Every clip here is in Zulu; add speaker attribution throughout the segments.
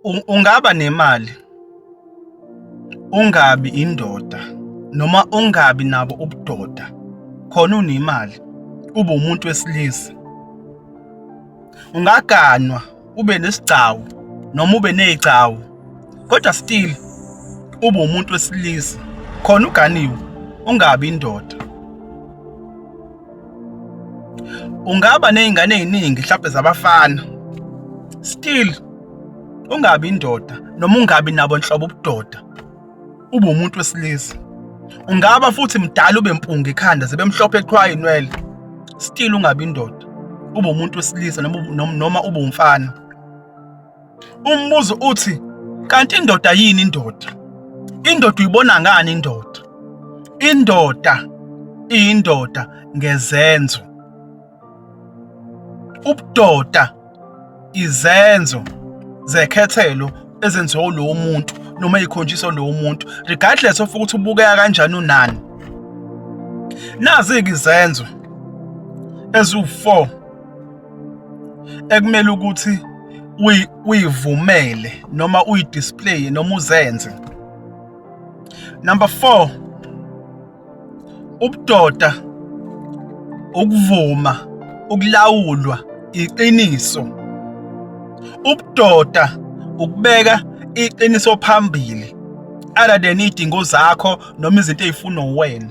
Speaker 1: ungaba nemali ungabi indoda noma ungabi nabo ubudoda khona unemali ube umuntu wesilisa ungaganwa ube nesigcawu noma ube nezigcawu kodwa still ube umuntu wesilisa khona uganiwe ungabi indoda ungaba nezingane eziningi mhlawumbe zabafana still ungabi indoda noma ungabi nabo nhlobo ubudoda ube umuntu wesilisa ungaba futhi mdala ube mpunga ekhanda zibe mhlophe eqhwaye inwele still ungabi indoda ube umuntu wesilisa noma noma ube umfana Umbuzo uthi kanti indoda yini indoda? Indoda uyibona ngani indoda? Indoda iyindoda ngezenzo. Ubudoda izenzo zekhethelo ezenziwa lowo muntu noma ikhonjiswa lowo muntu regardless of ukuthi ubukeka kanjani unani. Nazi-ke izenzo eziwu-four ekumele ukuthi uyivumele noma uyidisplaye noma uzenze number 4 ubudoda ukuvuma ukulawulwa iqiniso ubudoda ukubeka iqiniso phambili other than idingo zakho noma izinto ezifunwa uwena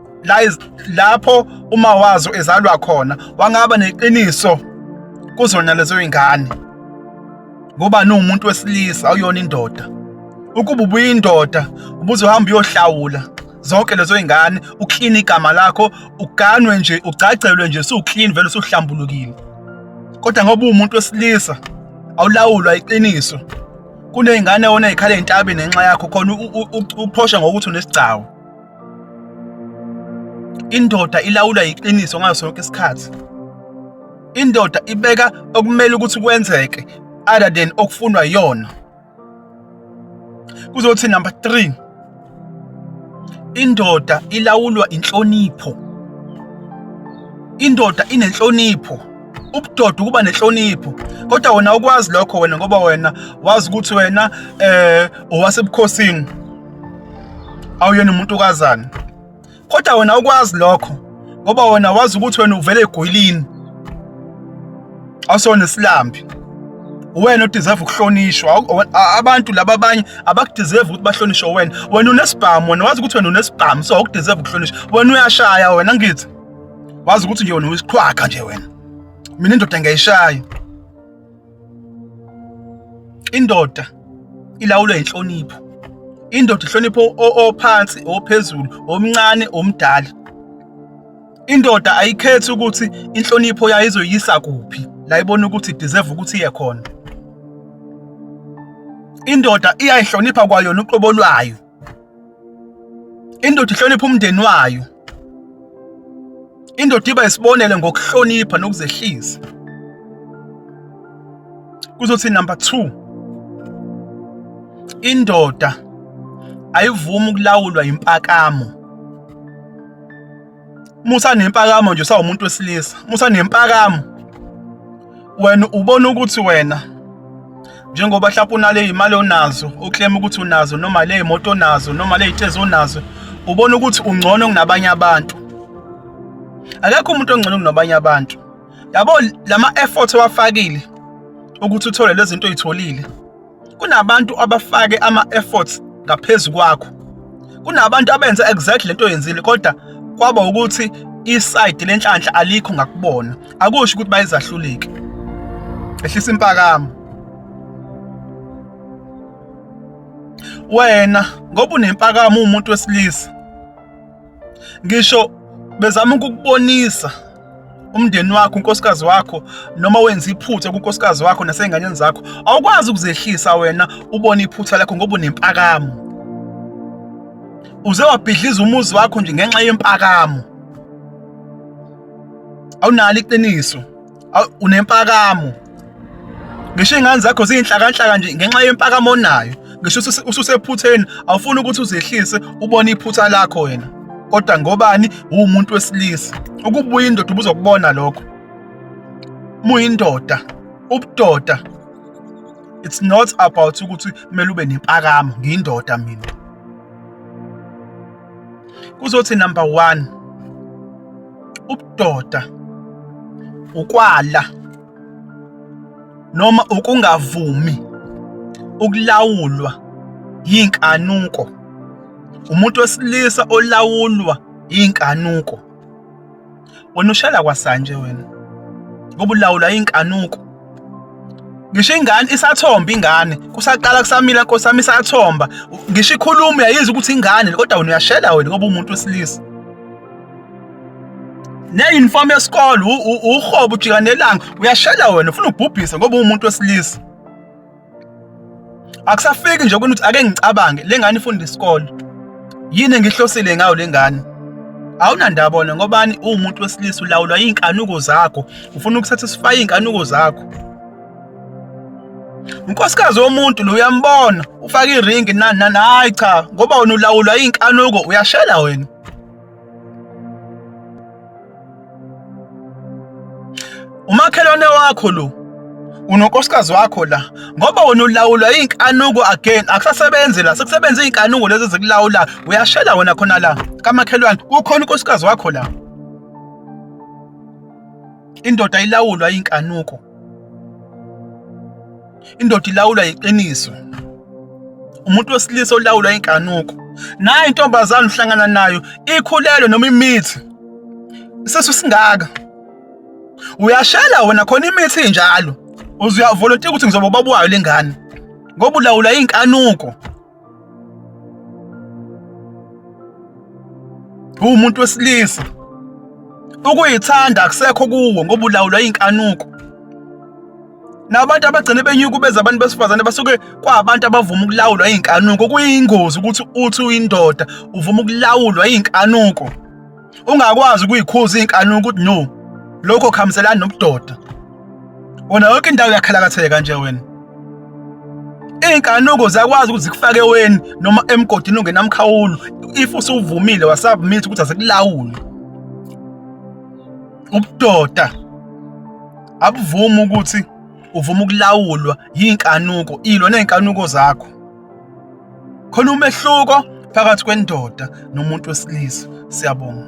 Speaker 1: lapho uma wazo ezalwa khona wangaba neqiniso kuzona lezo zingane ngoba niwumuntu wesilisa awuyona indoda ukuba ubuyindoda ubuzohamba uyohlawula zonke lezo zingane uklina igama lakho uganwe nje ugcagcelwe nje suklini vele usuhlambulukile kodwa ngoba uwumuntu wesilisa awulawulwa iqiniso kuney'ngane wona ey'khala entabeni ngenxa yakho khona uphosha ngokuthi unesigcawu indoda ilawulwa yiqiniso ngaso sonke isikhathi indoda ibeka okumele ukuthi kwenzeke other than okufunwa yona kuzothi number 3 indoda ilawulwa inhlonipho indoda inenhlonipho ubudoda ukuba nenhlonipho kodwa wena ukwazi lokho wena ngoba wena wazi ukuthi wena eh owasebukhosini awuyena umuntu kazana kodwa wena ukwazi lokho ngoba wena wazi ukuthi wena uvele egwilini awusona isilambi wena udeserve ukuhlonishwa abantu laba abanye abakudeserve ukuthi bahlonishwe wena wena unesibhamu wena wazi ukuthi wena unesibhamu so awukudeserve ukuhlonishwa wena uyashaya wena ngithi wazi ukuthi nje wena uyisiqhwaga nje wena mina indoda ngiyayishaya indoda ilawulwa inhlonipho indoda ihlonipho ophansi ophezulu omncane omdala indoda ayikhethi ukuthi inhlonipho yayo izoyisa kuphi la ibona ukuthi deserve ukuthi iye khona indoda iyayihlonipha kwayona uqobo lwayo indoda ihlonipha umndeni wayo indoda iba isibonele ngokuhlonipha nokuzehlisa kuzothi number 2 indoda ayivumi ukulawulwa impakamo musa nempakamo nje sawumuntu wesilisa musa nempakamo wena ubona ukuthi wena njengoba mhlawumbe unale imali onazo uclaim ukuthi unazo noma le imoto onazo noma le itezo onazo ubona ukuthi ungcono kunabanye abantu akekho umuntu ongcono kunabanye abantu yabo lama effort owafakile ukuthi uthole lezi zinto oyitholile kunabantu abafake ama-efforts ngaphezu kwakho kunabantu abenza exactly lento oyenzile kodwa kwaba ukuthi isayidi lenhlanhla alikho ngakubona akusho ukuthi bayizahluleki ehlisa impakamo wena ngoba unempakamo umuntu wesilisa ngisho bezama ukukubonisa umndeni wakho unkosikazi wakho noma wenza iphutha kunkosikazi wakho nasezinganeni zakho awukwazi ukuzehlisa wena ubone iphutha lakho ngoba unempakamo uze wabhidliza umuzi wakho nje ngenxa yempakamo awunalo iqiniso unempakamo ngisho iy'ngane zakho ziyinhlakanhlaka nje ngenxa yempakamo onayo ngisho ususephutheni awufuni ukuthi uzehlise ubone iphutha lakho wena kodwa ngobani uwumuntu wesilisa ukubuya indoda ubuzokubona lokho muyindoda ubudoda it's not about ukuthi kumele ube nempakamo ngiyindoda mina kuzothi number one ubudoda ukwala noma ukungavumi ukulawulwa yinkanuko umuntu wesilisa olawulwa yinkanuko wena ushela kwasanje wena ngoba ulawulwa inkanuko ngisho ingane isathomba ingane kusaqala kusamila nkosi yami isathomba ngisho ikhuluma uyayizwa ukuthi ingane kodwa wena uyashela wena ngoba umuntu wesilisa ne-uniform yesikole uhobo ujikanelanga uyashela wena ufuna ubhubhise ngoba uwumuntu wesilisa akusafiki nje ukuthi ake ngicabange le ngane ifunda isikole yini engihlosile ngayo le ngane awunandaba wona ngobani uwumuntu wesilisa ulawulwa iy'nkanuko zakho ufuna ukusatisfya iy'nkanuko zakho unkosikazi womuntu lo uyambona ufake iringi nani nani hayi cha ngoba wena ulawulwa iy'nkanuko uyashela wena umakhelwane wakho lo unonkosikazi wakho la ngoba wena ulawulwa iy'nkanuko again akusasebenzi la sekusebenza iy'nkanuko lezi zikulawula uyashela wena khona la kamakhelwane kukhona unkosikazi wakho la indoda ilawulwa iy'nkanuko indoda ilawulwa yiqiniso umuntu wesilisa olawulwa inkanuko nayo intombazane uhlangana nayo ikhulelwe noma imithi isisu singaka uyashela wena khona imithi injalo uzuyavolontiya ukuthi ngizoba ubaba wayo lengane ngoba ulawula inkanuko umuntu wesilisa ukuyithanda akusekho kuwo ngoba ulawulwa inkanuko nabantu abagcine benyukubeza abantu besifazane basuke kwabantu abavuma ukulawulwa inkanuko kuyingozi ukuthi uthi uyindoda uvuma ukulawulwa inkanuko ungakwazi ukuyikhuza izinkanuko ukuthi no lokho khamselani nobudoda wona yonke indawo yakhalakatheka nje wena iy'nkanuko ziyakwazi ukuthi zikufake weni noma emgodini ongenamkhawulo if usuvumile wasubmit ukuthi azikulawule ubudoda abuvumi ukuthi uvuma ukulawulwa yinkanuko ilo nezinkanuko zakho khona umehluko phakathi kwendoda nomuntu wesilisa siyabonga